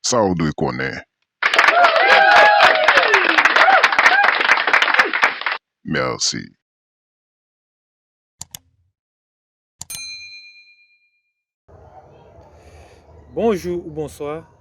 Sa ou dwe konnen. Merci. Bonjou ou bonswa.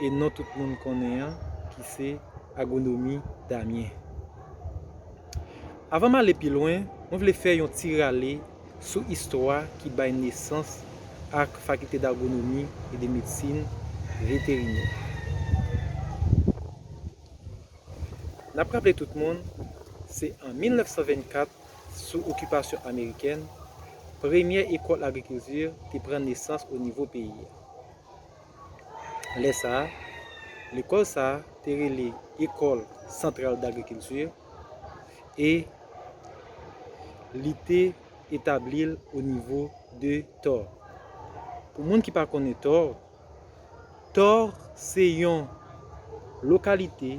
e non tout moun konnen an ki se Agronomi Damien. Avan m ale pi lwen, mwen vle fè yon ti rale sou istwa ki bay nesans ak Fakilte d'Agronomi e de Medsin Veterinè. N ap raple tout moun, se an 1924, sou okipasyon amerikèn, premyè ekòl agrikilti te pran nesans onivo peyi a. Lè sa a, lekòl sa a te rele École Centrale d'Agriculture e li te etabli l o nivo de Thor. Pou moun ki pa konnen Thor, Thor se yon lokalite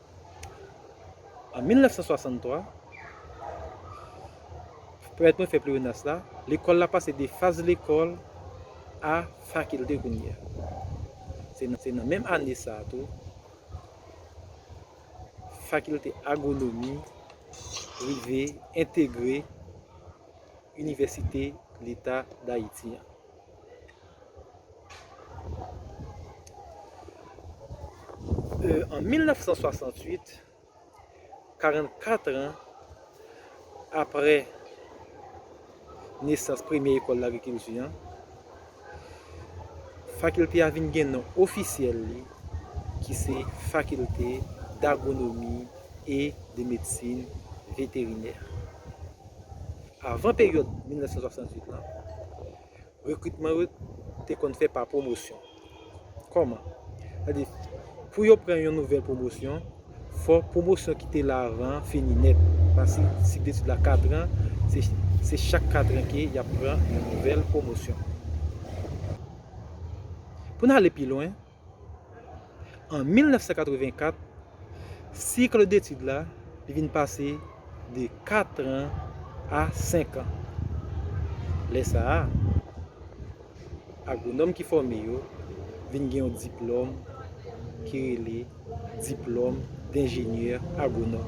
An 1963, pèmèt mwen fè pleonasm la, lekòl la pase de faz lekòl a fakilte kounye a. Se nan menm ane sa a tou, fakilte agwonomi rive entegre Inivèsite Leta Dayiti an. An 1968, 44 an apre nesans premye Ekòl Lagrikilti an, Fakilte a vin gen non ofisyèl li ki se Fakilte Dagwonomi e de Medsin Veterinè. Avan peryòd 1968 lan, rekritman yo te konn fè pa pwomosyon. Kòman? Sa di, pou yo pran yon nouvèl pwomosyon, fò pwomosyon ki te la avan an fini nèt. Paske si sik detid la katran, se chak katran ke y ap pran yon nouvèl pwomosyon. Pou n ale pi lwen, An 1984, sikl detid la li vin pase de katran a senkan. Lè sa a, agwonòm ki fòme yo vin gen yon diplòm ki rele diplòm denjenyè agwonòm.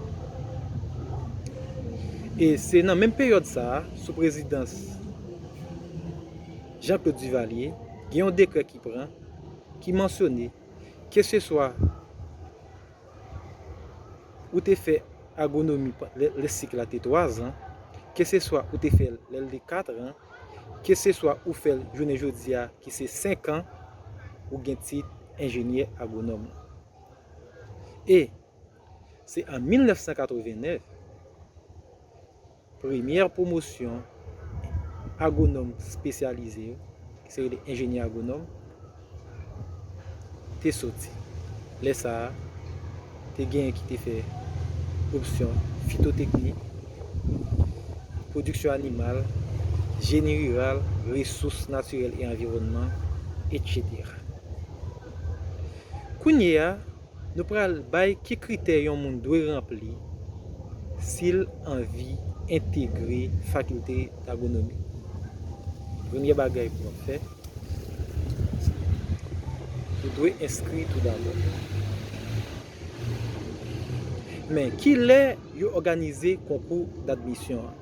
E se nan menm peryòd sa a, sou prezidans Jean Claude Duvalier, gen yon dekrè ki pran, ki mansyone keseswa ou te fè agonomi lè sik la te 3 zan, keseswa ou te fè l lè l te 4 ran, keseswa ou fè l jounen jodi a ki se 5 an, ou gen tit enjenyè agonòm lan. E, se an 1989, Premyè pwomosyon agwonòm spesyalize yo, ki se rele enjenyè agwonòm, te soti. Lè sa a, te genyen ki te fè opsyon fitoteknik, pwodiksyon animal, jeni riral, resous natirèl e anviwònman, etc. Kounye a, Nou pral bay ki kritè yon moun dwe ranpli si l anvi entegre Fakilte Dagonomi. Premye bagay pou w ap fè, se ou dwe enskri tou dabò. Men, ki lè yo òganize konkou dadmisyon an?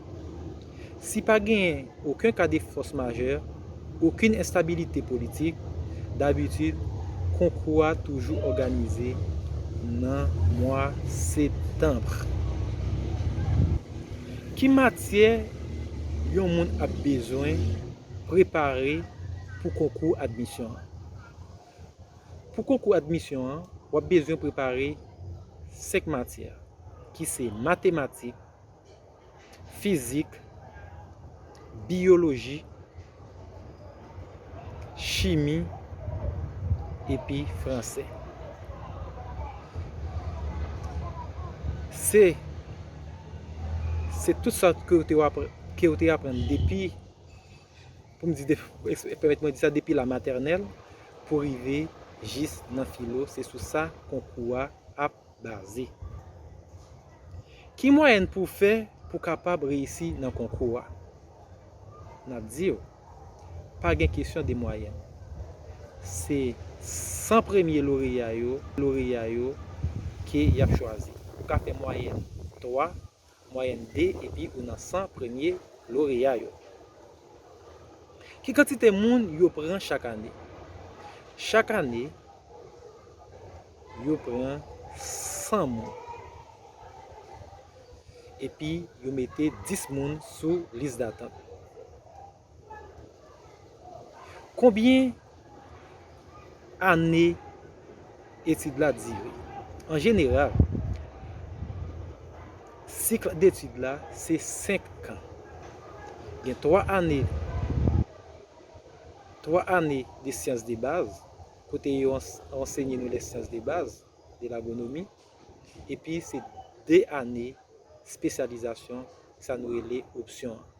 Si pa genyen oken ka de fòs majè, okenn enstabilite politik, dabitid, konkou a toujou òganize nan mwa septanb. Ki matyè yon moun ap bezwen prepare pou konkou admisyon an? Pou konkou admisyon an, w ap bezwen prepare senk matyè ki se matematik, fizik, biyoloji, chimi epi franse. Se se tout sa ke ou te wap ke ou te aprann depi pou m di de pèmèt mwen di sa depi la matènèl pou rive jis nan filo se sou sa konkou a ap Baze. Ki mwayèn pou w fè pou w kapab reyisi nan konkou a? N ap di w, pa gen kesyon de mwayèn. Se 100 premye loreya yo ke y ap chwazi. Ou ka fè mwayèn 3, Mwayèn 2 epi ou nan 100 premye loreya yo. Ki kantite moun yo pran chak ane? Chak ane, yo pran 100 moun. Epi yo mete 10 moun sou lis datant. Konbyen ane etid la dire? An jeneral, sikl detid la se 5 kan. Gen 3 ane, 3 ane de syans de baz, kote yo ansenye nou lè syans de baz, de lagonomi, epi se 2 ane spesyalizasyon, sa nou rele opsyon an.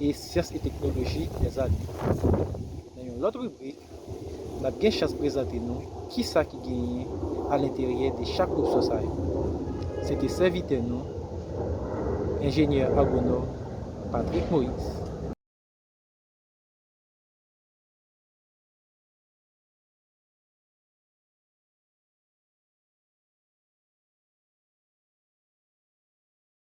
e syans e teknoloji Lèzami. Nan yon lòt ribrik, n ap gen chans prezante nou ki sa ki genyen alenteryè de chak opsyon sa yo. Se te sèvitè nou, Enjenyè Agwonòm Patrick Moïse.